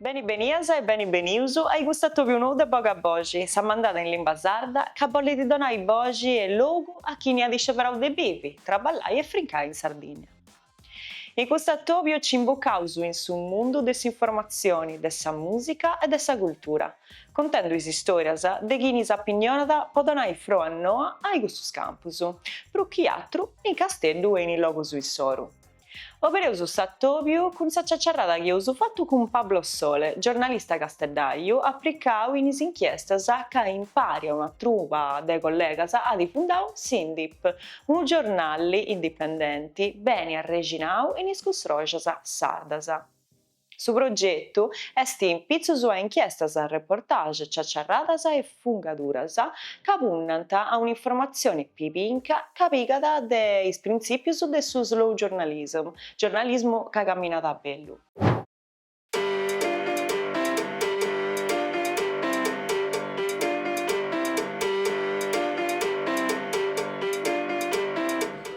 Beni benias e beni benius ai custu atobiu nou de Boga Boxi, sa mandada in limba sarda ca bollit donai boxi e logu a chini at isceberau de bivi, traballai e friscai in Sardinnia. In custu atobiu nci imbucaus in su mundu de s'informatzioni, de sa musica e de sa cultura, contendu is istorias de chini s'apinnionant po donai frua noa ai custus campus, prus chi atru in Casteddu e in is logus issoru. Obereus s'atòbiu cun sa ciaciarrada chi eus fatu cun Pablo Sole, giornalista casteddàiu aplicau in is inchiestas ca impari a una truba de collegas at fundau Indip, unu giornali indipendenti beni arrexinau in is cussòrgias sardas. Su progetu est in pitzus a inchiestas, reportage, ciaciarradas e fungaduras ca punnant a un'informatzione pibinca ca pigat de is printzìpius de su slow journalism, giornalismu ca caminat a bellu.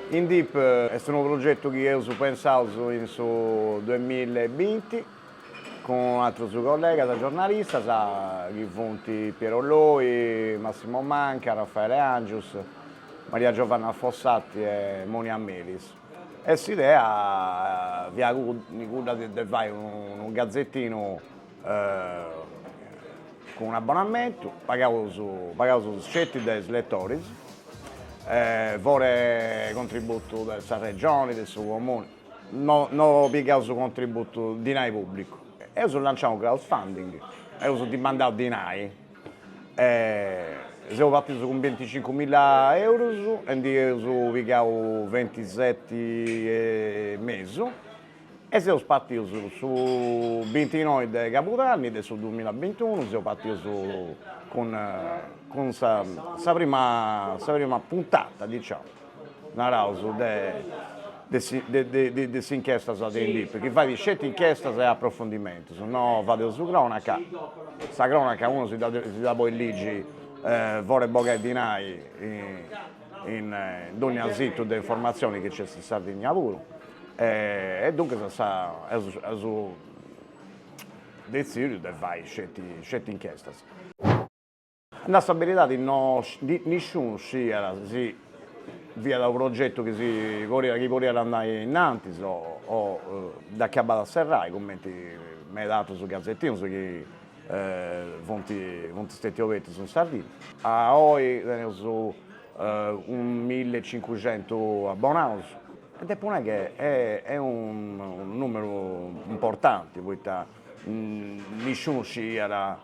Indip est unu progetu chi eus pensau in su duemilla e binti cun atrus collegas giornalistas chi funt Piero Loi, Massimo Manca, Raffaele Angius, Maria Giovanna Fossati e Monia Melis e s'idea fiat cudda de fai unu gazetinu cun un'abbonamentu pagaus pagaus sceti de is letoris foras 'e contributu de sa Regioni, de su Comuni, no no pigaus contributu dinai pubblicu. Eus lanciau unu crowdfunding, eus dimandau dinai e seus partius cun binticincu milla eurus e ndi eus pigau ventiseti e mesu E seus partius su bintinoi de cabudanni de su duamilla e bintiunu, seus partius cun cun sa sa prima sa prima puntata, diciamo, naraus de de de de s'inchiestas de Indip, chi fait sceti inchiestas e aprofundimentus, no fadeus su cronaca, sa cronaca unu si dda si dda podit ligi foras 'e bogai dinai in in dònnia situ de informatzioni chi nc'est in Sardigna puru E duncas eus detzìdiu de fai sceti inchestas. A nai sa beridadi nisciunu sciiat si fiat unu progetu chi podiat andai innantis o chi acabàt a serrai, cumenti meda atrus gazetinos chi funt stètios obertus in Sardigna. A oi teneus unu mille e cincuxentus abonaus. Depo nai che est unu numeru importanti poita nisciunu sciiat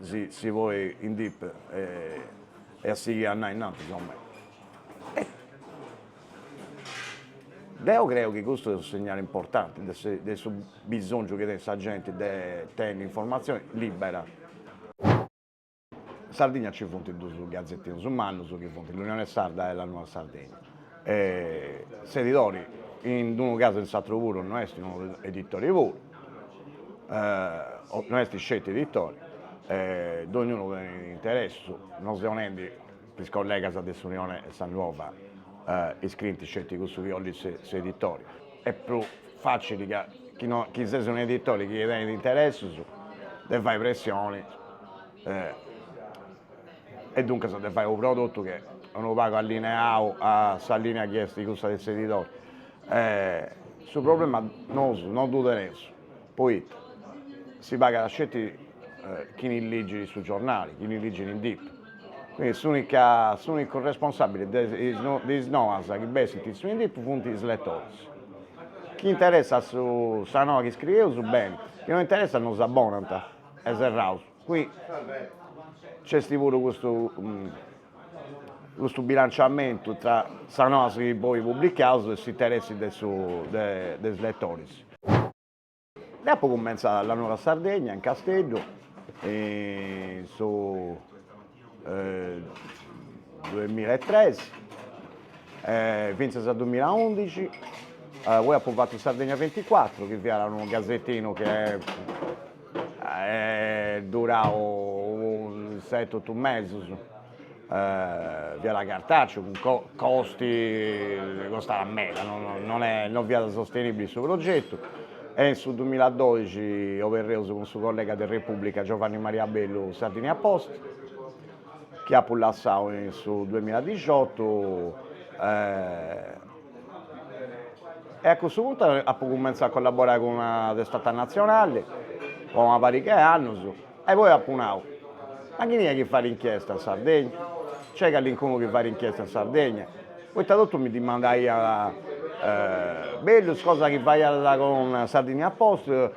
si podiat Indip sighi a andai innantis, insomma deo creo chi custu est unu segnale importanti de su de su bisonzu chi tenet sa genti de tenni informazioni libera In Sardigna nci funt duus gazetinus mannus chi funt L'Unione Sarda e La Nuova Sardegna. S'edidori, in unu casu e in s'aturu puru, no est unu editori puru, no est sceti editori, dogniunu tenit interessus, no seu nendi Chi is collegas de s'Unione e sa Nuova iscrint sceti cussu chi ollit s'editore. Est prus facili ca chi ses un'editore chi tenit interessus de fai pressioni e duncas de fai unu prodotu chi est unu pagu allineau a sa linea chi est cussa de s'editore. Su problema nosu no ddu teneus poita si pagat sceti chini ligit su giornali, chini ligit Indip. S'ùnica, s'ùnicu responsàbile de is noas chi bessint in su Indip funt is letoris. Chi interessat su sa noa chi iscrieus, beni, chi no interessat no s'abbonant e serraus. Qui nc'est puru custu custu bilanciamentu tra sas noas chi poi publicaus e s'interessi de su de de is letoris. Deo apo cumentzadu a La Nuova Sardegna, in Casteddu, in su duemilla e tres e fintzas a dumilla e undixi, poi apo fatu Sardegna venticuatro chi fiat unu gasetinu chi est duradu seti otu mesis fiat cartàceu cun costi, costàt meda, non fiat sostenìbile su progetu e in su dumila doixi oberreus cun su collega de Repùblica Giovanni Maria Bellu Sardinia Post chi apu lassau in su duemila dixiotu e a cussu puntu apu cummentzau a collaborai cun una testata natzionali po una pariga 'e annus E poi apu nau, ma chini est chi fait inchiesta in Sardegna? Nc'est callincunu chi fait inchiesta in Sardegna? Poita totus mi dimandaiant bellus cosa chi faias cun Sardinia Post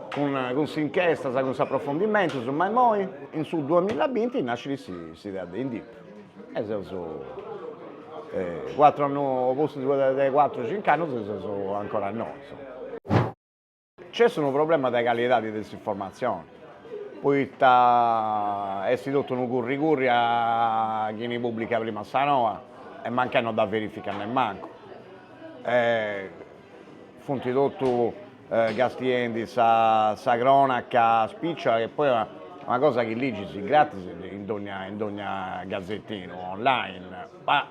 cun cun s'inchiestas cun s'aprofondimentus, ma immoi? In su duamilla binti nascit s'idea de Indip e seus cuatru annus pustis de cuatru cinc'annus seus ancora innoi. Nc'est unu problema de calidade de s'informatzione, poita est totu unu curri curri a chini pùblicat prima sa noa e mancai non dda verificat nemmancu. Funt totu castiendi sa crònaca spìciola chi est poi una cosa chi ligis gratis in dogna gasetinu online Ma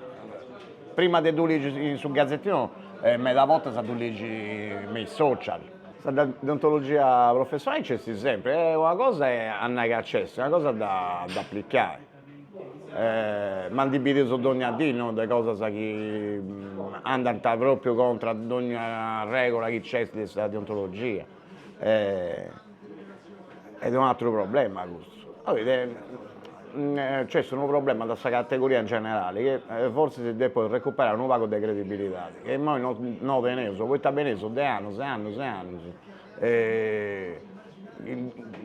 prima de ddu ligi in su gazetinu, meda bortas ddu ligis me is social. Sa deontologia professionali nc'est sempri, e una cosa est a nai ca nc'est, una cosa est a dd'aplicai. Ma ndi bidius dogna dì, no, de cosas chi andant pròpriu contra a dogna arrègula chi nc'est de sa deontologia. est un atteru problema custu, nc'est unu problema de sa categoria in generale chi forsis depeus recuperai unu pagu de credibilidade chi immoi no no teneus poita beneus de annus e annus e annus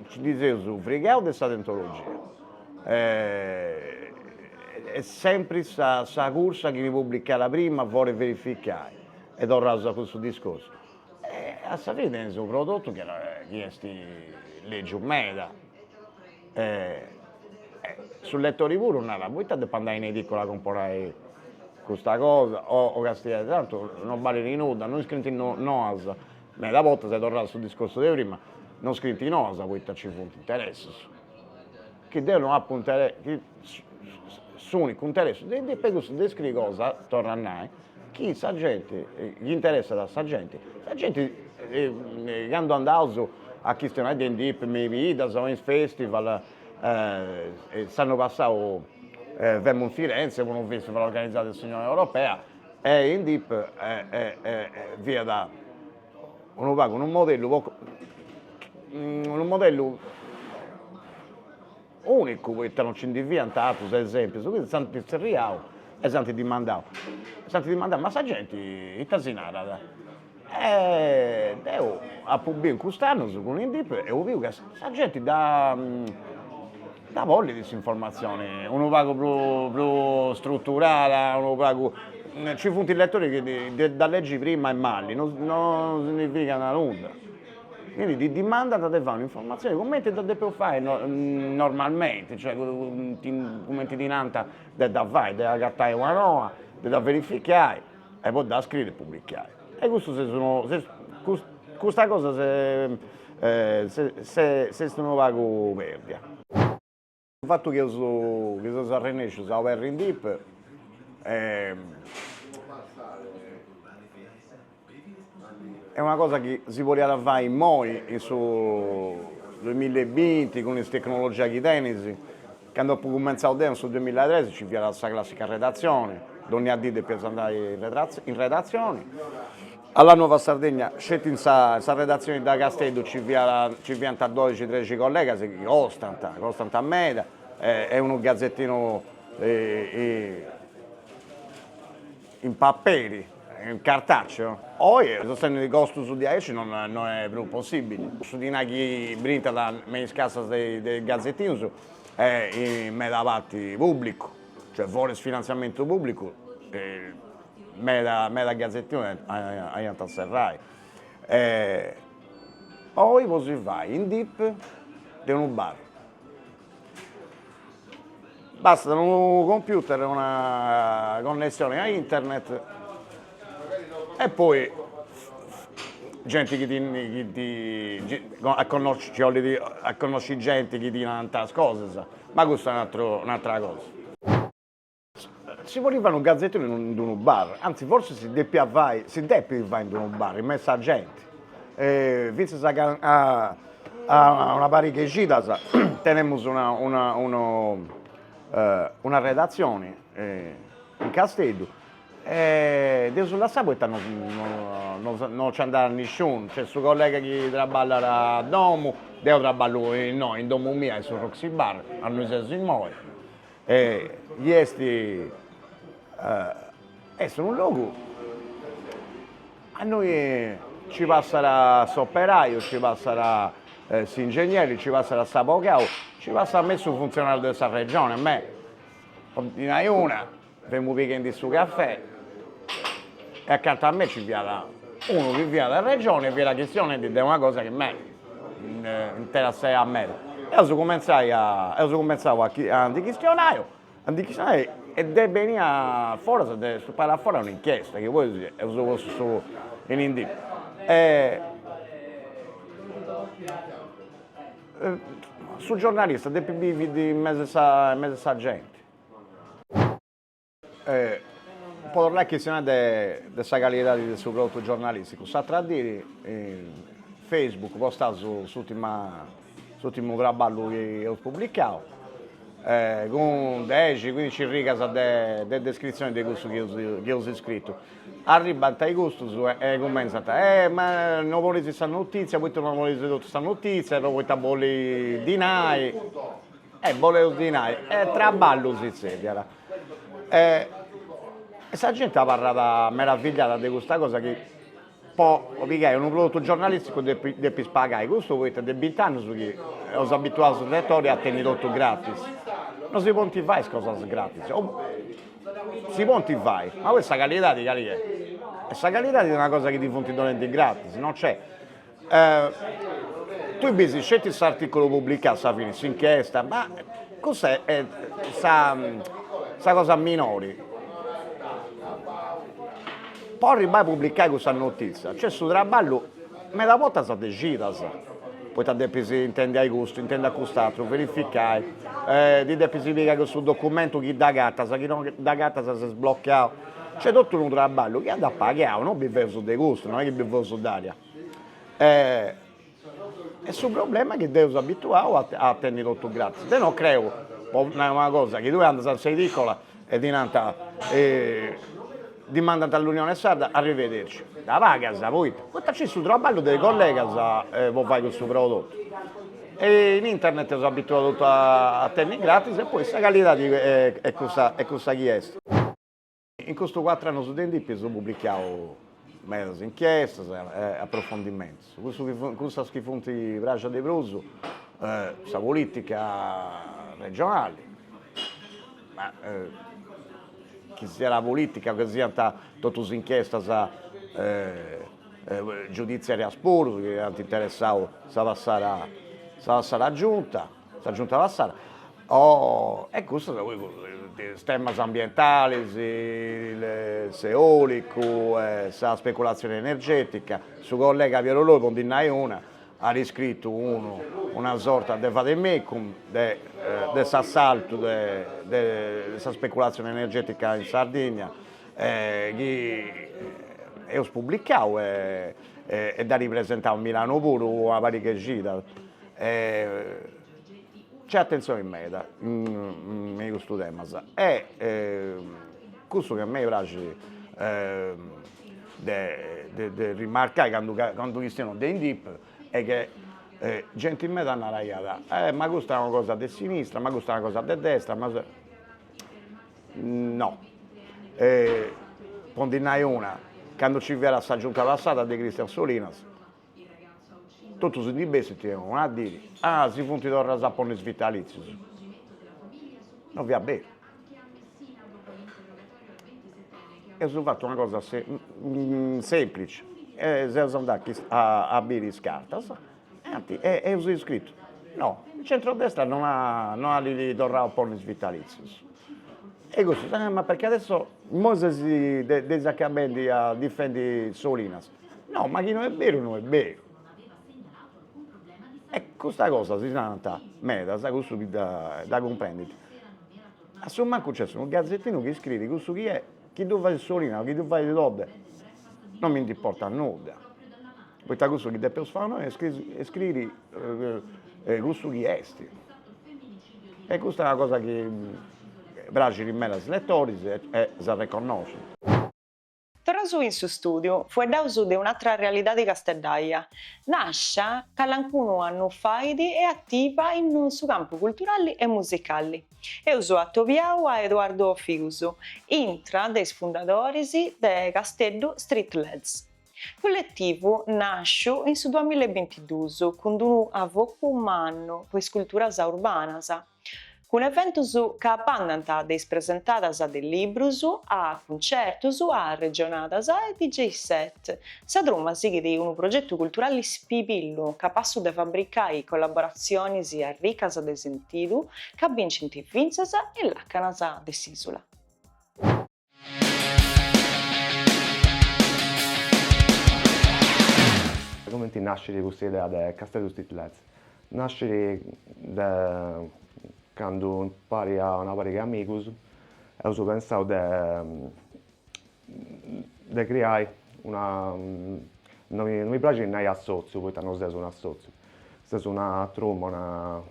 si ndi seus frigaus de sa deontologia est sempre sa cursa a chini pùblicat prima fora 'e verificai e torraus a cussu discorsu E a sa fine est unu prodotu chi chi est lègiu meda e e su letori puru narat, poita depo andai in edicola a comporai custa cosa o o castiai tantu non balit nudda, no iscrint noas, meda bortas e torraus a su discorsu de prima, no iscrint noas poita nci funt interessus chi deu no apu, s'ùnicu interessu de Indip est cussu de scriri cosa, torro a nai, chi sa genti, chi interessat a sa genti, sa genti candu andaus a chistionai de Indip me is biddas o in festival s'annu passau femu in Firenze po unu festival organizau de s'Unione Europea e Indip fiat Unu pagu unu modellu unu modellu unicu poita non nci ndi fiant atrus esempius, quindi s'ant zerriau e s'ant dimandau, s'ant dimandau, ma sa genti ita si narat. E deu apu biu in cust'annus cun Indip, eus biu ca sa genti dda Dda bolit s'informatzione unu pagu prus struturada, unu pagu, nci funt letoris chi dda legi prima e mali, non significat nudda, quindi ti dimandant de fai un'informatzione cumenti dda depeus fai normalmente, cioè cumenti ti nant de dda fai, de agatai una noa, de dda verificai e po dda scriri e publicai e custu s'est unu custa cosa s'est unu pagu perdia. Su fattu chi eus chi seus arrennescius a oberri Indip est una cosa chi si podiat fai immoi in su duemilla e binti cun is tecnologia chi teneus Cando apu cumentzadu deo in su duemilatrexi nci fiat sa classica redatzione, dònnia dì depiaus andai in redatzione, a La Nuova Sardegna sceti in sa in sa redatzione de Casteddu nci fiat nci fiant doxi trexi collegas chi costant, costant meda e e unu gazetinu In paperi, in cartaceo? Oi sostenni costus de aici no no è prus possibili. Su dinai chi brintat me is cassas de is gazetinus è in meda parti publicu, cioè foras finanziamentu publicu meda meda gazetinus aiant a serrai. Oi podis fai Indip de unu bar. Bastat unu computer e una connessioni a internet e poi genti chi ti a connosci nci 'ollit a connosci genti chi ti nant sas cosas, ma custu est un'attra cosa Si podit fai unu gazettinu in in d'unu bar, anzi forsis si depiat fai, si depit fai in d'unu bar, in mesu 'e sa genti, fintzas a a una pariga 'e cidas tenemus una una unu una redatzioni in Casteddu e dd'eus lassada poita no no no nci andat nisciunu, nc'est su collega chi traballat a domu, deo traballu innoi in domu mia e in su Roxy bar, aundi seus imoi E chi est est unu logu aundi ci passat s'operaju, ci passat s'ingegneri, ci passat s'abogau, ci passat meda su funtzionariu de sa Regione, me po ti nai una, femu pighendi su cafè e acanta a me ci fiat unu chi fiat de sa Regione e fiat chistionendi de una cosa chi me interessàt meda. Eus cumentzai a eus cumentzau a chi a ndi chistionai a ndi chistionai e nd'est benia foras de su paris a fora un'inchiesta chi poi eus postu su in Indip e su giornalista depit bivi in mesu a in mesu a sa genti E po torrai a chistionai de de sa calidadi de su prodotu giornalisticu, s'atra diri in Facebook postaus s'ultima s'ultimu traballu chi eus publicau cun dexi cuindici rigas de de descritzioni de cussu chi chi eus iscritu, arribant a custus e cumentzant, e ma no ponis sa notitzia, poita no ponis totu sa notitzia, no poita boleis dinai, e boleus dinai, e traballus si tzerriat e sa gente abarrat meravigliada de custa cosa chi po pigai unu prodotu giornalisticu depis depis pagai, custu poita de binti annus chi eus abituadu su letori a tenni totu gratis, no si podint fai is cosas gratis, si podint fai, ma poi sa calidadi cali est, e sa calidadi est una cosa chi ti funt donendu gratis, no c'è Tui bis sceti s'articulu publicau, a sa fini, s'inchiesta, ma cussa est sa cosa minori. Po arribbai a publicai cussa notizia nc'est su traballu meda bortas de cidas, poita depis intendi a custu, intendi a cust'atru, verificai, ti depis pigai cussu documentu chi dd'agatas, chi no dd'agatas ses blocau Nc'est totu unu traballu chi andat pagau, no biveus de custu, no est chi biveus d'aria. E e su problema est chi dd'eus abituau a a tenni totu gratis. Deu non creu, po nai una cosa, chi tui andas a sa edicola e ti nant, dimandant L'Unione Sarda, arrivederci, dda pagas poita, poita nc'est su traballu de collegas po fai cussu prodottu E in internet eus abituau totu a tenni gratis e poi sa calidadi est cussa chi est. In custus cuatru annus de Indip eus publicau medas inchiestas e aprofondimentus, cussas chi funt praxias de prus sa politica regionali, ma chi siat politica o chi siant totus inchiestas giuditziarias puru chi ant interessau sa passada sa passada Giunta, sa Giunta passada e custas poi is temas ambientalis, s'eolicu e sa speculatzioni energetica, su collega Piero Loi po ndi nai una at iscritu unu una sorta de vademecum de de s'assaltu de de sa speculatzioni energetica in Sardigna chi eus publicau e dd'at presentau in Milano puru una pariga 'e cidas c'è attenzione meda in custus temas e cussu chi a mei praxit de de rimarcai candu candu chistionu de Indip est chi genti meda naraiat ma custa è una cosa de sinistra ma custa è una cosa de destra No. Po ndi nai una, candu nci fiat sa Giunta passada de Christian Solinas, totu si ndi bessit unu a diri, ah si funt torraus a ponni is vitalìtzius. No fiat beru. Eus fatu una cosa semplici, seus andaus a biri is cartas eus iscritu no, il centrodestra non at torrau a ponni is vitalìtzius, e cussu, ah ma perché adesso imoi ses dda ses acabendi a difendi Solinas, no ma chi no est beru no est beru, e custa cosa si narant medas, cussu chi dda dda cumprendit, a su mancu nc'est unu gazettinu chi iscriit cussu chi est, chi ddu fait Solinas o chi ddu fait Todde, non mi nd'importat nudda Poita cussu chi depeus fai nois est iscriri cussu chi est. E custa est una cosa chi praxit meda a is letoris e s'arreconnoscint. Torraus in su stùdiu, fueddaus de un'atra realidadi casteddaia, nàscia calancunu annu fait e ativa in su campu culturali e musicali. Eus atobiau a Eduardo Figus, intra de is fundadoris de Casteddu Street Lads. Culletivu nàsciu in su duamilla e bintidus cun unu avocu mannu po is culturas urbanas, cun eventus ca bandant de is presentadas de librus a cuncertus a arregionadas e DJ set. Sa truma sighit unu progetu culturali spibillu, capassu de fabricai collaboratzionis arricas de sentidu ca bincint fintzas is làcanas de s'ìsula. Cumenti nascit custa idea de Casteddu Street Lads? Nascit de candu impari a una pariga 'e amigus eus pensau de de criai una no mi no mi praxit nai assotziu poita no seus un'assotziu seus una truma una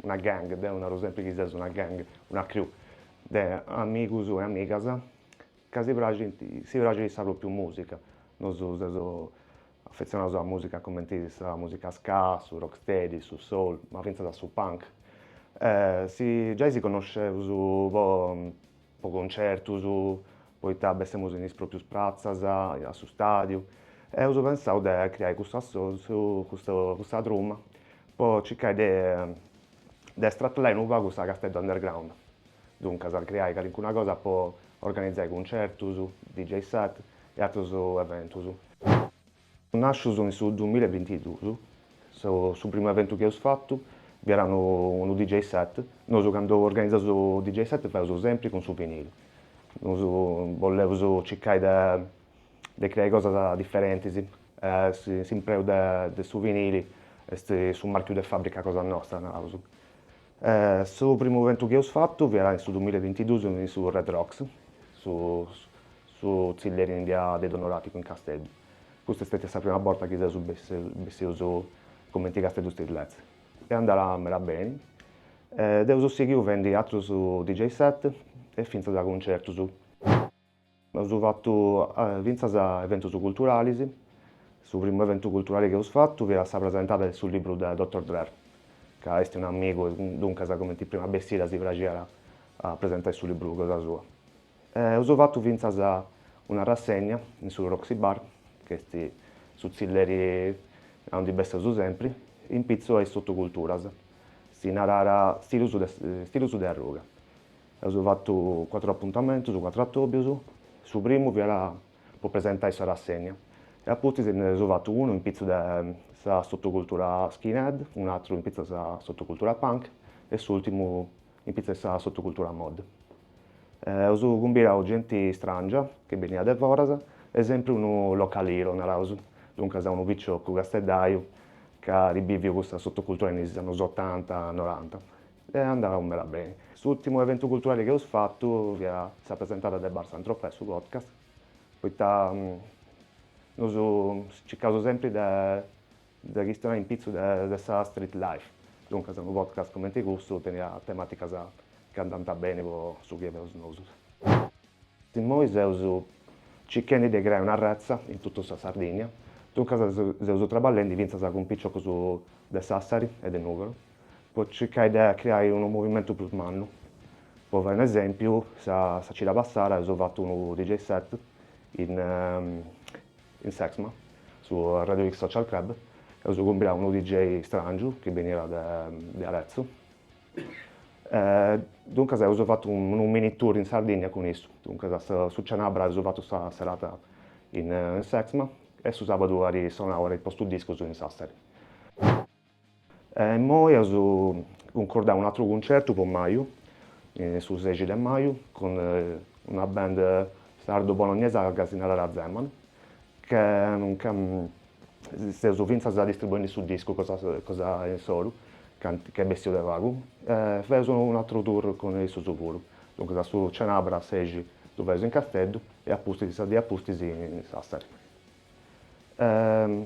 una gang deu naru sempri chi seus una gang una crew de amigus e amigas ca si praxint, si praxit sa propriu musica, nosu seus affezionaus a musica cumenti sa musica ska, su rocksteady, su soul, ma fintzas a su punk. Si giai si connosceus po po concertus, poita bessemus in is proprius pratzas, a su stadiu, eus pensau de creai custu assotziu, custa truma po circai de de stratallai unu pagu sa Casteddu Underground, duncas a creai calincuna cosa po organizai cuncertus, DJ set e atrus eventus. Nascius in su duamilla e bintidus, su primu eventu chi eus fatu fiat unu DJ set, nosu candu organizaus DJ set faeus sempri cun su vinilu, nosu bolleus circai de de creai cosas diferentis, s'impreu de su vinili est su marchiu de fàbrica cosa nostra, naraus. Su primu eventu chi eus fatu fiat in su duamilla e bintiduus in su Red Rocks, su tzilleri in bia de Donoràticu in Casteddu. Custa est stètia sa prima borta chi seus bessius cumenti Casteddu Street Lads est andada meda beni. Dda eus sighiu fendi atrus DJ set e fintzas cuncertus. Eus fatu fintzas eventus culturalis, su primu eventu culturali chi eus fatu fiat sa presentada de su libru de Doctor Drer, ca est un'amigu e duncas cumenti prima bessida si praxiat a presentai su libru cosa sua. E eus fatu fintzas una rassegna in su Roxy Bar, chi est su tzilleri a undi besseus sempri, in pitzu a is sotoculturas, si narat Stilus de Arruga. Eus fatu cuatru apuntamentus, cuatru atòbius, su primu fiat po presentai sa rassènnia e a pustis nd'eus fatu unu in pitzus de sa sotocultura skinhead, un'atru in pitzus de sa sotocultura punk e s'ùrtimu in pitzus de sa sotocultura mod. Eus cumbirau genti stràngia chi beniat de foras e sempri unu local hero, naraus, duncas unu picioccu casteddaiu chi at biviu custa sotocultura in is annus otanta, noranta Est andau meda beni. S'ùrtimu eventu culturali chi eus fatu fiat sa presentada de Bar Saint Tropez su podcast, poita nosu circaus sempri de chistionai in pitzu de sa street life, duncas unu podcast cumenti custu teniat temàticas chi andant beni po su chi faeus nosu. Immoi seus circhendi de creai una retza in totu sa Sardìnnia, duncas seus traballendi fintzas cun piciocus de Sassari e de Nùgoro, po circai de criai unu movimentu prus mannu, po fai un'esempiu sa sa cida passada eus fatu unu DJ set in in s'Exma, su Radio X Social Club, eus cumbidau unu DJ strangiu chi beniat de de Arezzo e duncas eus fatu unu mini tour in Sardinnia cun issu, duncas a su su cenabra eus fatu sa serata in s'Exma e su sabadu at sonau at postu discus in Sassari. E immoi eus cuncordau un'atru cuncertu po maju, su sexi de maju, cun una band sardo-bolognesa ca si narat Zeman, ca seus fintzas distribuendi su discu cosa insoru, ca est bessiu de pagu, e feus un'atru tour cun issus puru, duncas a su Cenabras sexi ddu feus in Casteddu e a pustis, sa die a pustis in Sassari.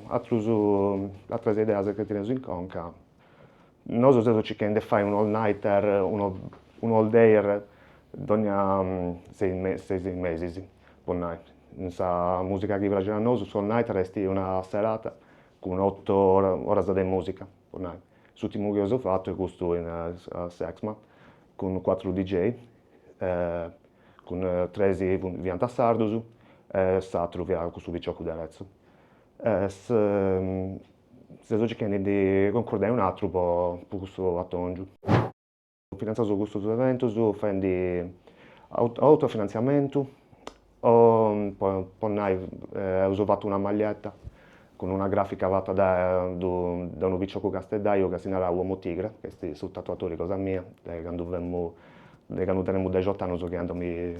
atrus atras ideas chi teneus in conca, nosu seus circhendi 'e fai unu all-nighter, unu all-dayer dogna seis mesis po nai, in sa musica chi praxit a nosu su all-nighter est una serata cun oto oras de musica po nai, s'urtimu chi eus fatu est custu in s'ExMà cun cuatru DJ Cun tres fiant sardus e s'atteru fiat cussu piciocu de Arezzo. Seus circhendi de concordai un atteru po custu attongiu. Finanziaus custus eventus fendi autofinanziamentu o po nai eus fattu una maglietta cun una gràfica fata dae unu piciocu casteddaju ca si narat Uomo Tigre, ca est su tatuatori cosa mia, dae candu femu, dae candu tenemu dexot'annus chi andu a mi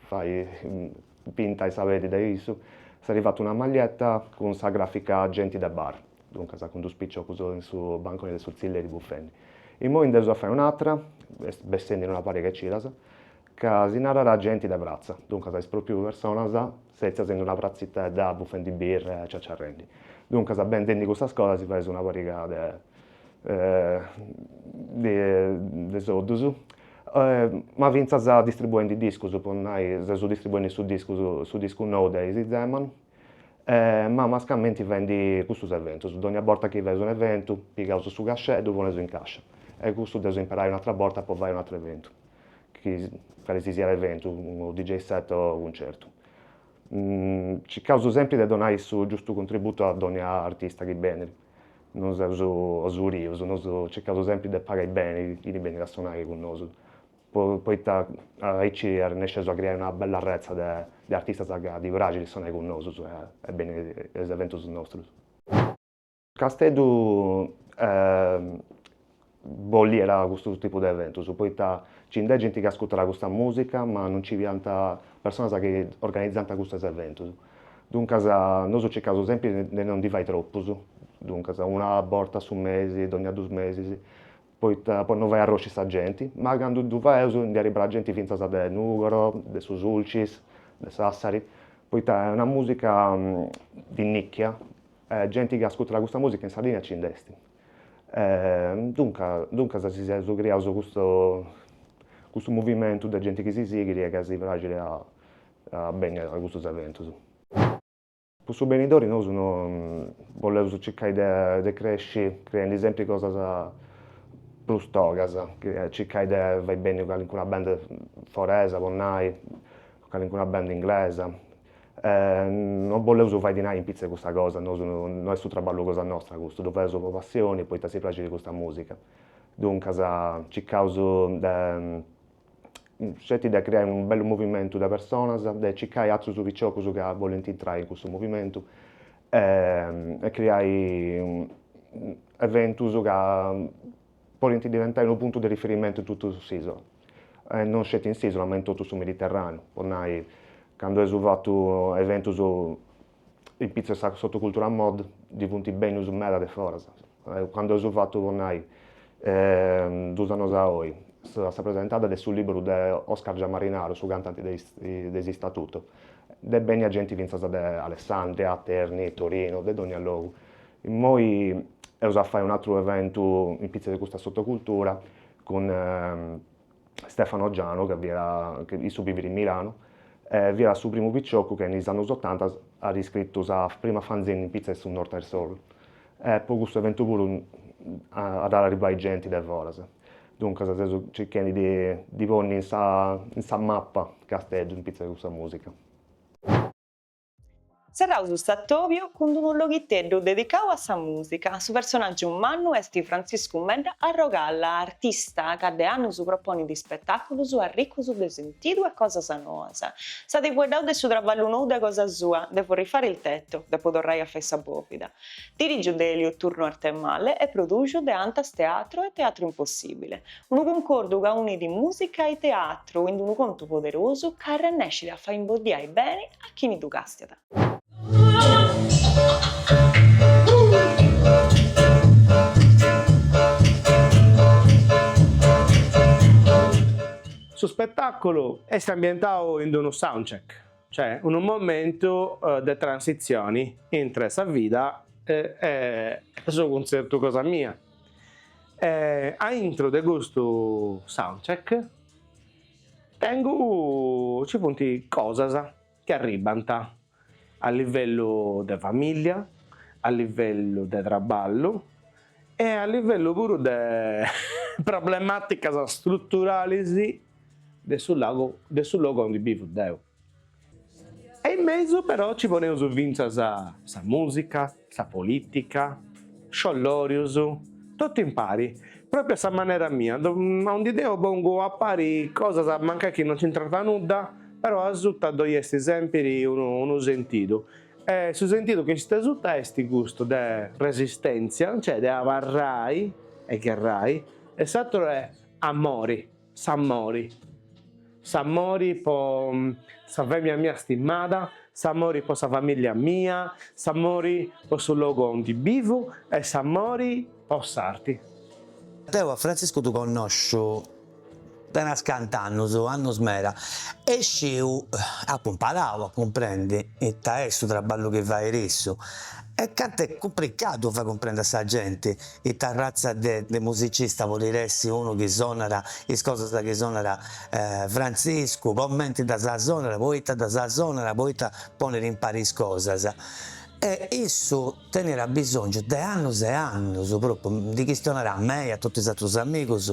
fai pintai sa peddi dae issu, s'at fatu una maglietta cun sa gràfica Genti de bar, duncas cun dus piciocus in su banconi de su tzilleri bufendi. Immoi nd'eus a fai un'atra, est bessendi in una pariga 'e cidas, ca si narat Genti de pratza, duncas is pròpriu personas Setzias in una pratzitedda bufendi birra e ciaciarrendi. Duncas bendendi custas cosas si faeus una pariga de de soddus. Ma fintzas distribuendi discus, po nai seus distribuendi su discus, su discu nou de is Zeman, ma mascamenti faendi custus eventus. Dogna borta chi faeus un'eventu, pigaus su cachet, ddu poneus in cascia. E custu dd'eus a imperai un'atra borta po fai un'atru eventu. calisisiat eventu, unu DJ set o cuncertu. Circaus sempri de donai su giustu contributu a dònnia artista chi benit, non seus osurius, nosu circaus sempri de pagai beni chini benit a sonai cun nosu, poita aici arrennesceus a criai una bella retza de artistas ca ddi praxit sonai cun nosu e beniri a is eventus nostrus. Casteddu boliat custu tipu de eventus, poita nci nd'est genti chi ascurtat custa musica, ma non nci fiant personas chi organizant custos eventus. Duncas nosu circaus sempri de non ndi fai tropus, duncas una borta a su mesi, dogna dus mesis, poita po non fai arrosci sa genti, ma candu ddu faeus ndi arribbat genti fintzas de Nùgoro, de su Sulcis, de Sassari, poita est una musica di nicchia Genti chi ascurtat custa mùsica in Sardigna nci nd'est. Duncas, duncas si seus criaus custu custu movimentu de genti chi si sighit e ca si praxit a a benni a custus eventus. Cun su benidori nosu boleus circai de de cresci creendi sempri cosas prus togas, circai de fai benni calincuna band foresa po nai, Calincuna band inglesa. No boleus fai dinai in pitza de custa cosa, nosu no est su traballu cosa nostra custu, ddu fadeus po passioni, poita si praxit custa musica. Duncas circaus sceti de creai unu bellu movimentu de personas, de circai atrus piciocus ca bolint intrai in custu movimentu e creai eventus ca podint diventai unu puntu de riferimentu in totu s'ìsula, e non sceti in s'ìsula ma in totu su Mediterràneu, po nai, candu eus fatu eventus in pitza sa sotocultura Mod ddi funt bènnius meda de foras, candu eus fatu, po nai, duus annus a oi, sa sa presentada de su lìberu de Oscar Giammarinaru, su cantanti de is de is Statuto, nd'est bènnia genti fintzas de Alessandria, Terni, Torinu, de dònnia logu, Immoi eus a fai un'atru eventu in pitza de custa sotocultura cun Stefano Giano ca bivit, issu bivit in Milano e fiat su primu picioccu ca in is annus otanta at iscritu sa prima fanzine in pitza de su Northern Soul e po custu eventu puru at a arribbai genti de foras. Duncas seus circhendi de ddi ponni in sa in sa mappa Casteddu in pitza de custa musica. Serraus s'atòbiu cun d'unu loghiteddu dedicau a sa mùsica. Su personàgiu mannu est Frantziscu Medda Arrogalla, artista ca de annus proponit ispetàculus arricus de sentidu e cosas noas. Si at fueddau de su traballu nou cosa sua, Devo rifare il tetto, depu torrai a fai sa bòvida. Dirigiu de Elio Turno Arthemalle e produxu de Antas Teatro e Teatro Impossibile. Unu cuncordu ca unit mùsica e teatru in unu contu poderosu ca arrennescit a fai imboddiai beni a chini ddu càstiat. Su spetàculu est ambientau in unu soundcheck, cioè unu momentu de transitzioni intre sa vida e su cuntzertu cosa mia. E a intro de custu soundcheck tengu, ci funt cosas chi arribbant a livellu de famìllia, a livellu de traballu e a livellu puru de problemàticas struturalis de su logu aundi bivu deu E in mesu però ci poneus fintzas sa mùsica, sa polìtica, sciollòrius, totu impari, pròpriu a sa manera mia, aundi deu pongu a pari cosas mancai chi non nc'intrant nudda, però asuta ddoi est sèmpiri unu sentidu, e su sentidu chi est asuta est custu de resistèntzia, cioè de abarrai e gherrai, e s'atru est amori. S'amori, s'amori po sa fèmina mia stimada, s'amori po sa famìllia mia, s'amori po su logu aundi bivu e s'amori po s'arti. Deu a Frantziscu ddu connosciu de no sciu cant'annus, annus meda, e sciu, apu imparau a cumprendi ita est su traballu chi fait issu e cantu est cumplicadu fai cumprendi a sa genti. Ita ratza de musicista bolit essi unu chi sonat is cosas chi sonat Frantziscu, comenti ddas sonat, poita ddas sonat, poita ponit impari is cosas. E issu tenit abisongiu de annus e annus, propriu ndi chistionat a mei, a totu is atrus amigus,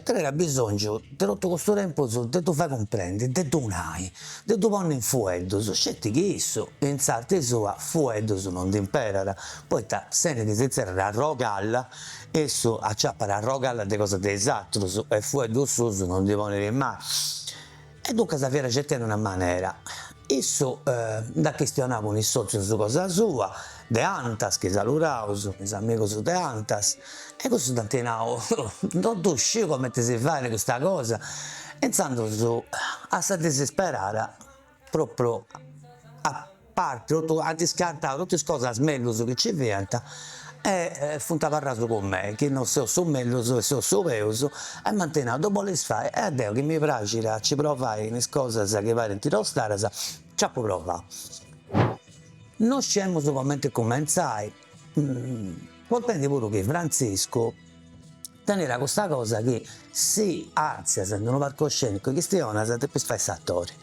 tenit abisongiu de totu custu tempus de ddu fai cumprendi, de ddu nai, de ddu ponni in fueddus, sceti chi issu in s'arti sua fueddus non ndi imperat Poita si nd'inserrat arrogalla, issu aciapat arrogalla de cosas de is atrus e fueddus suus no ndi ponit mai. E duncas fiat circhendi una manera. Issu nd'at chistionau cun is sotzius su cosa sua, de Antas, chi saludaus, is amigus de Antas, e cussus dd'ant nau, no ddu sciu comenti si fait custa cosa, e intzandus a sa disisperada, Propriu a parti totu ant iscartau totu is cosas mellus chi ci fiant e funt abarraus cun me chi no seu su mellus e seu su peus e m'ant nau ddu bolis fai e deu chi mi praxit a ci provai in is cosas chi parint tostadas nc'apu provau. No sciemus comenti cumentzai, contendi puru chi Frantziscu Teniat custa cosa chi si artzias in unu parcoscenicu e chistionas depis fai s'atori.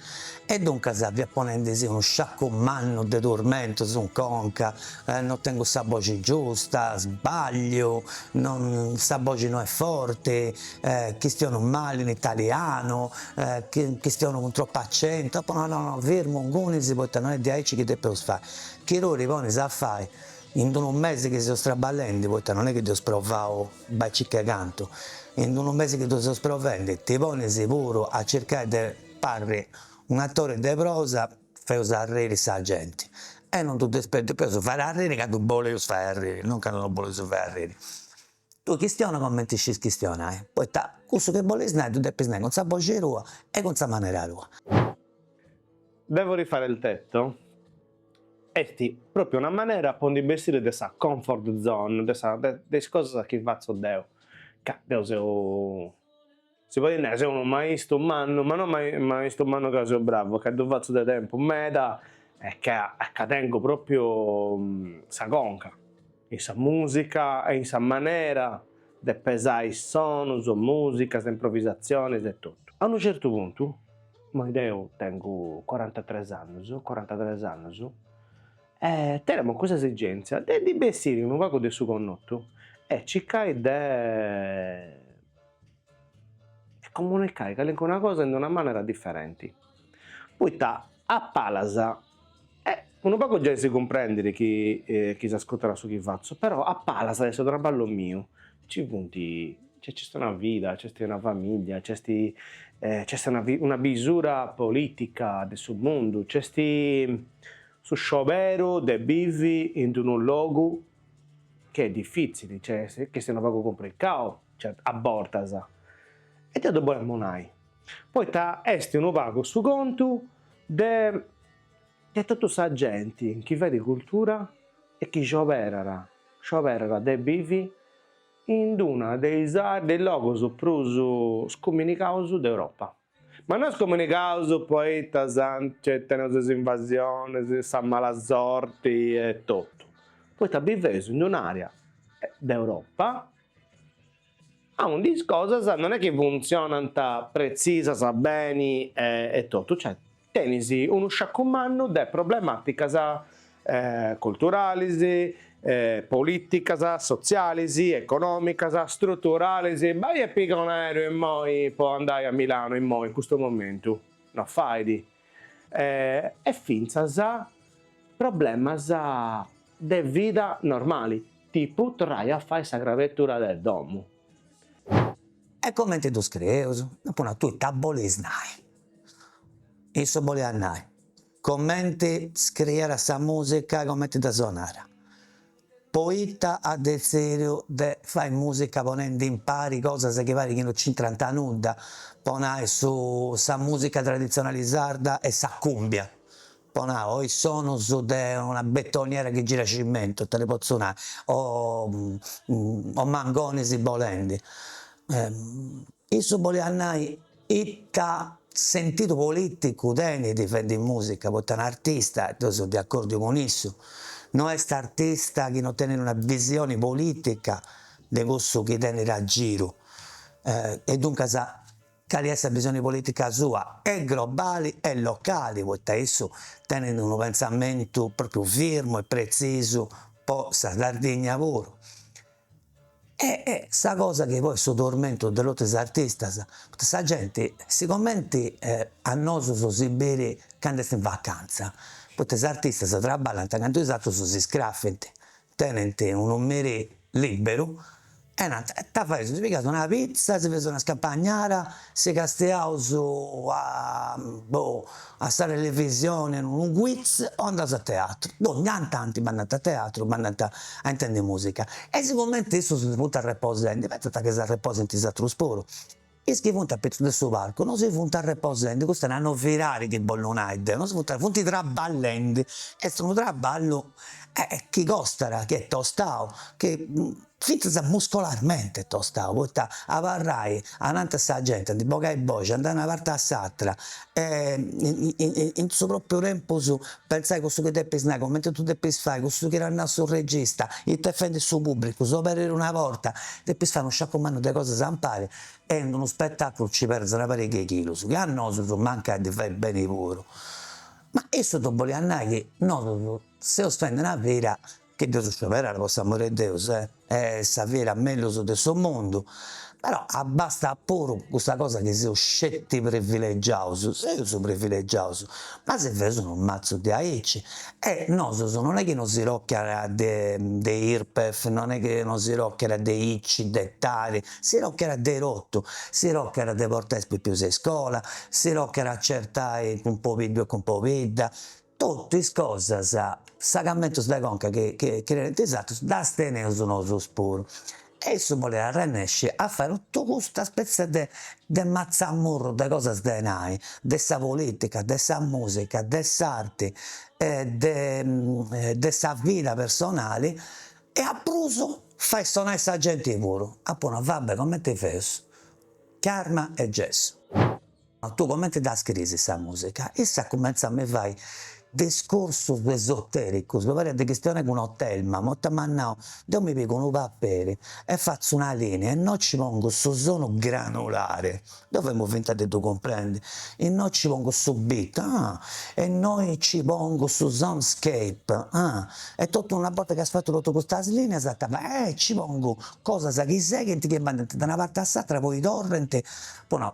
E duncas fiat ponendisi unu sciacu mannu de turmentus in conca, no tengu sa boxi giusta, sbagliu, sa boxi no est forti, chistionu mali in italianu, chistionu cun tropu accentu, apo nau no no firmu ingunis poita no est diaici chi depeus fai, chi tui ti ponis a fai In unu mesi chi seus traballendi, poita non est chi dd'eus provau bai e circa cantu, in unu mesi chi ddu seus provendi, ti ponis puru a circai de parri un'atori de prosa, feus arriri sa genti. E non ddu depeus, depeus fai arriri candu boleus fai arriri, non candu non boleus fai arriri. Tui chistiona comenti iscis chistionai, poita cussu chi bolis nai ddu depis nai cun sa boxi tua e cun sa manera tua. Devo rifare il tetto est propriu una manera po ndi bessiri de sa comfort zone, de sa de de is cosas chi fatzu deu, ca deu seu Si podit nai, seu unu maistu mannu, ma no maistu mannu ca seu bravu, ca ddu fatzu de tempus meda e ca tengu propriu sa conca in sa musica e in sa manera de pesai sonus, musicas, improvisazionis e totu. A unu certu puntu, immoi deu tengu corantatres annus, corantatres annus, e tenemu cussa esigentzia de ndi bessiri unu pagu de su connotu e circai de e comunicai calincuna cosa in una manera diferenti, poita a palas e unu pagu giai si cumprendit chi chi s'ascurtat su chi fatzu, però a palas de su traballu miu, ci funt, nc'est una vida, nc'est una familia, nc'est nc'est una una bisura politica de su mundu, nc'est su scioberu de bivi in d'unu logu Chi est difitzili, cioè chi est unu pagu cumplicau a bortas, e deu ddu bolemu nai, poita est unu pagu su contu de de totu sa genti chi fait cultura e chi scioberat, scioberat de bivi in una de is de is logus prus scomunigaus de Europa. Ma no scomunigaus poita nci teneus is invasionis, sa mala sorti e totu, poita biveus in un'àrea de Europa aundi is cosas non est chi funtzionant pretzisas beni e totu, cioè Tenis unu sciacu mannu de problemàticas culturalis, polìticas, sotzialis, econòmicas, struturalis, bai e piga un aereu immoi po andai a Milanu immoi in custu momentu, no fait, e fintzas problemas de vida normali, tipu torrai a fai sa crabetura de domu. E comenti ddu scrieus? Apu nau, tui ita bolis nai? Issu boliat nai, comenti scriiat sa musica e comenti dda sonat, poita at detzìdiu de fai musica ponendi impari cosas chi parit chi no nc'intrant a nudda, po nai su sa musica traditzionali sarda e sa cùmbia, po nai o is sonus de una betoniera chi girat cimentu, ita ti potzu nai, o mangonis bolendi Issu boliat nai ita sentidu politicu tenit fendi musica, poita un'artista, e deu so de accordiu cun issu, no est artista chi no tenit una visioni politica de cussu chi tenit a giru, e duncas cali est sa visioni politica sua, e grobali e locali, poita issu tenit unu pensamentu propriu firmu e pretzisu po sa Sardigna puru, E sa cosa chi poi est su tormentu de totu is artistas, poita sa genti sigomenti a nosus si bit candu est in vacanza, poita is artistas traballant candu is atrus si scrafint, tenint unu merì liberu e nant, ita feus, si pigaus una pitza, si feus una scampagnara si castiaus a boh a sa televisioni unu quiz o andaus a teatru, donnia tanti bandant a teatru, bandant a intendi musica e sigumenti issus si funt arreposendi pentzant chi s'arreposint is atrus puru, is chi funt apitzus de su palcu no si funt arreposendi, cussu est sa novidadi chi bollu nai deu, no si funt, funt traballendi, est unu traballu chi costat, chi est tostau, chi Fintzas muscolarmente tostau, poita abarrai ananti sa genti ndi bogai boxi, andai una parti a s'atra e in su propriu tempus pentzai cussu chi depis nai, cumenti ddu depis fai, cussu chi t'at nau su regista, ita est fendi su pubbricu, s'oberit una porta, depis fai unu sciacu mannu de cosas impari e in unu spetaculu nci perdis una pariga 'e chilus, chi a nosus mancai ddi fait beni puru. Ma issu ddu bolia nai chi nosus seus fendi una vida Chi dd'eus scioberada po s'amore 'e Deus est sa vida mellus de su mundu, però abbastat puru custa cosa chi seus sceti privilegiaus, seus privilegiaus, ma si feus unu matzu de aici e nosus non est chi no si tocat de de Irpef, non est chi no si tocat de Ici, de Tari, si tocat de totu, si tocat de portai is pipius a iscola, si tocat a certai cun pobiddu e cun pobidda, Totu is cosas, segamentus de conca chi tenint is atrus, ddas teneus nosus puru. E issu bolit arrennesci a fai totu custa spetzia de de matzamurru de cosas de nai, de sa politica, de sa musica, de s'arti e de de sa vida personali e a prus fai sonai sa genti puru. Apu nau, va bè, comenti feus, carma e gessu. Ma tue comente dda scriis sa musica? Issa cumentzat a mi fai discursus esotericus, mi pariat de chistionai cun Otelma, un'orta m'at nau, deu mi pigu unu paperi e fatzu una linea e innoi ci pongu su sonu granulare, deu fiamu finta de ddu cumprendi, e innoi ci pongu su beat, ah, e innoi ci pongu su soundscape, ah, e totu una borta chi as fatu totu custas lineas ita fais, eh, ci pongu cosas chi seghint, chi andant de una parti a s'atra, poi torrant, po nau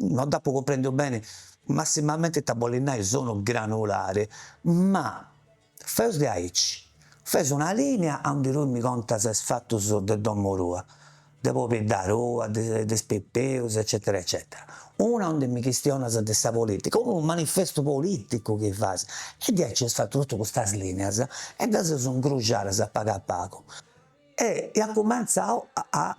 non dd'apo cumprèndiu bene, massimamente ita bolit nai sonu granulare, ma fai de aici, feus una lìnia a unde tui mi contas is fatus de domo tua, de pobidda tua, de de is pipius eccetera eccetera, una a unde mi chistionas de sa politica, unu manifestu politicu chi fais, e diaici eus fatu totu custas lìnias e ddas eus incruxadas a pagu a pagu E iat cumentzau a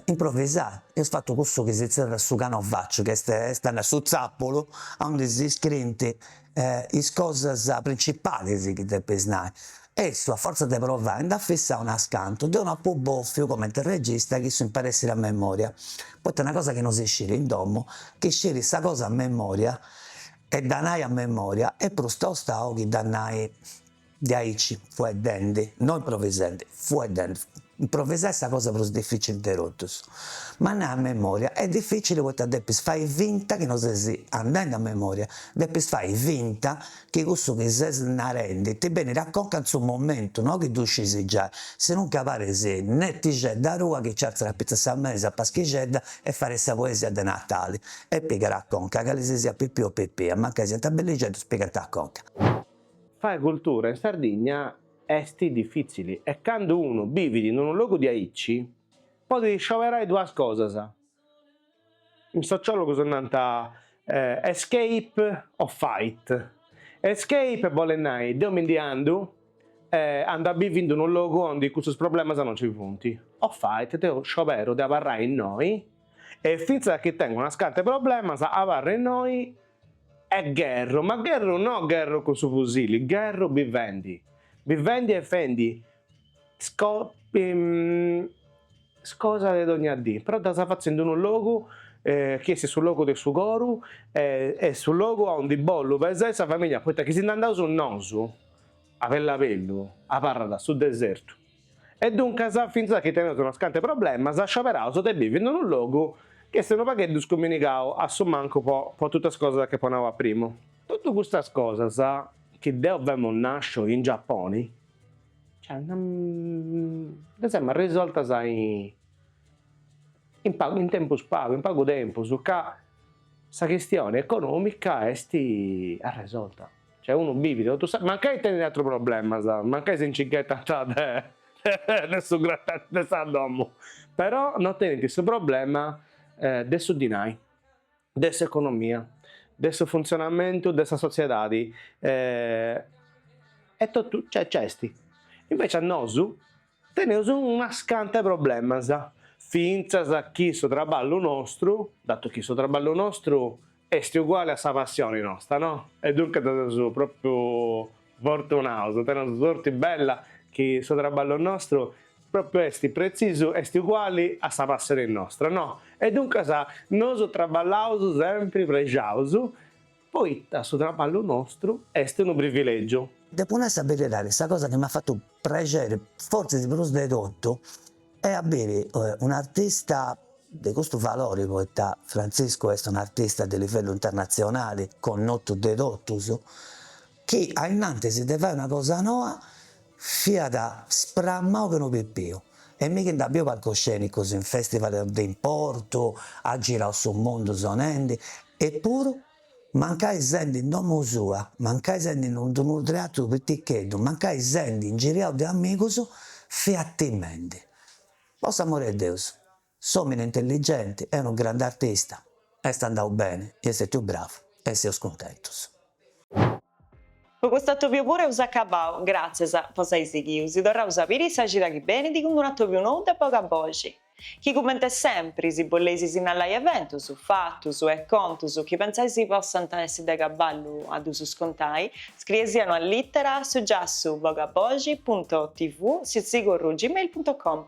improvisai, eus fatu cussu chi si zerrat su canovacciu, chi est a nai su tzapulu, aundi si scriint is cosas principalis chi depis nai. E issu, a fortza de provai, nd'at fissau unas cantus. Deu nd'apu bòfiu, comenti e regista, chi si imparèt a sciri a memòria, poita est una cosa chi no si sciri in domu, chi sciri sa cosa a memòria e dda nai a memòria est prus tosta chi dda nai De aici fueddende, no improvisende, fueddende, improvisai est sa cosa prus dificili de totus. Ma andai a memoria est dificili poita depis fai finta chi no ses andende a memoria, depis fai finta chi cussu chi ses narendi ti benit a conca in su momentu, no chi ddu scis giai, si non ca paris netixedda rua chi nci artziat a sa mesa a paschixedda e fait sa poesia de natali e pigat a conca, cali si siat Pipiu o Pipia, mancai siant bellixeddus pigant a conca. Fai cultura in Sardigna est difìtzili e candu unu bivit in unu logu diaici podit scioberai duas cosas, is sociòlogus nant escape o fight, escape bolit nai deu mi ndi andu e andu a biviri in unu logu ondi custus problemas non nci funt, o fight deu scioberu de abarrai innoi e fintzas chi tengu unas cantu 'e problemas abarru innoi E gherru, ma gherru no gherru cun su fusili, gherru bivendi, bivendi e fendi is cosas de dogna dì, però ddas fatzu in unu logu chi est su logu de su coru e su logu a undi bollu pesai sa familia, poita chi si nd'andaus nosu a bellabellu abarrat su desertu. E duncas, fintzas chi teneus unus cant'e problemas, scioberaus de bivi in unu logu chi est unu pagheddu scuminigau a su mancu po po totu is cosas chi apu nau a primu. Totu custas cosas chi deu femu nasciu in Giapponi, cioè ddas emu arresoltas in tempus pagu, in pagu tempus ca sa chistioni economica est arresolta. Cioè unu bivit totu sa. Mancai tenit atrus problemas, mancai si nci ghetant de de su gratacci de sa domu, però no tenint su problema de su dinai, de s'economia, de su funtzionamentu de sa sotziedadi e totu cioè nc'est. Invecias nosu Teneus unas canta 'e problemas, fintzas chi su traballu nostru, datu chi su traballu nostru est uguali a sa passioni nostra, no? E duncas seus pròpriu fortunaus, teneus sorti bella chi su traballu nostru pròpriu est pretzisu, est uguali a sa passioni nostra, no? E duncas nosu traballaus sempri prexaus Poita su traballu nostru est unu privilègiu. Depu nai sa beridadi, sa cosa chi m'at fatu prexeri fortzis prus de totu est a biri un'artista de custu valori, poita Frantziscu est un'artista de livellu internatzionali, connotu de totus, chi ainnantis de fai una cosa noa fiat spramau che unu pipiu e mi chi nd'at biu palcoscenicus in festival de importu, at girau su mundu sonendi, epuru mancai sendi in domo sua, mancai sendi in unu unu teatru piticheddu, mancai sendi ingiriau de amigus, fiat timendi. Po s'amori 'e Deus! S'omini intelligenti e unu grande artista est andau beni i est stètiu bravu e seus cuntentus. Po cust'atobiu puru eus acabau, gràtzias, po s'ai sighiu, si torraus a biri sa cida chi benit cun un'atobiu nou de Bogaboxi, chi cumenti sempri, si boleis sinnalai eventus, fatus, e contus chi pentzais possant essi de cabali a ddus contai, scrieisì una lìtera a su giassu bogaboxi punto tv sitzigorru gmail punto com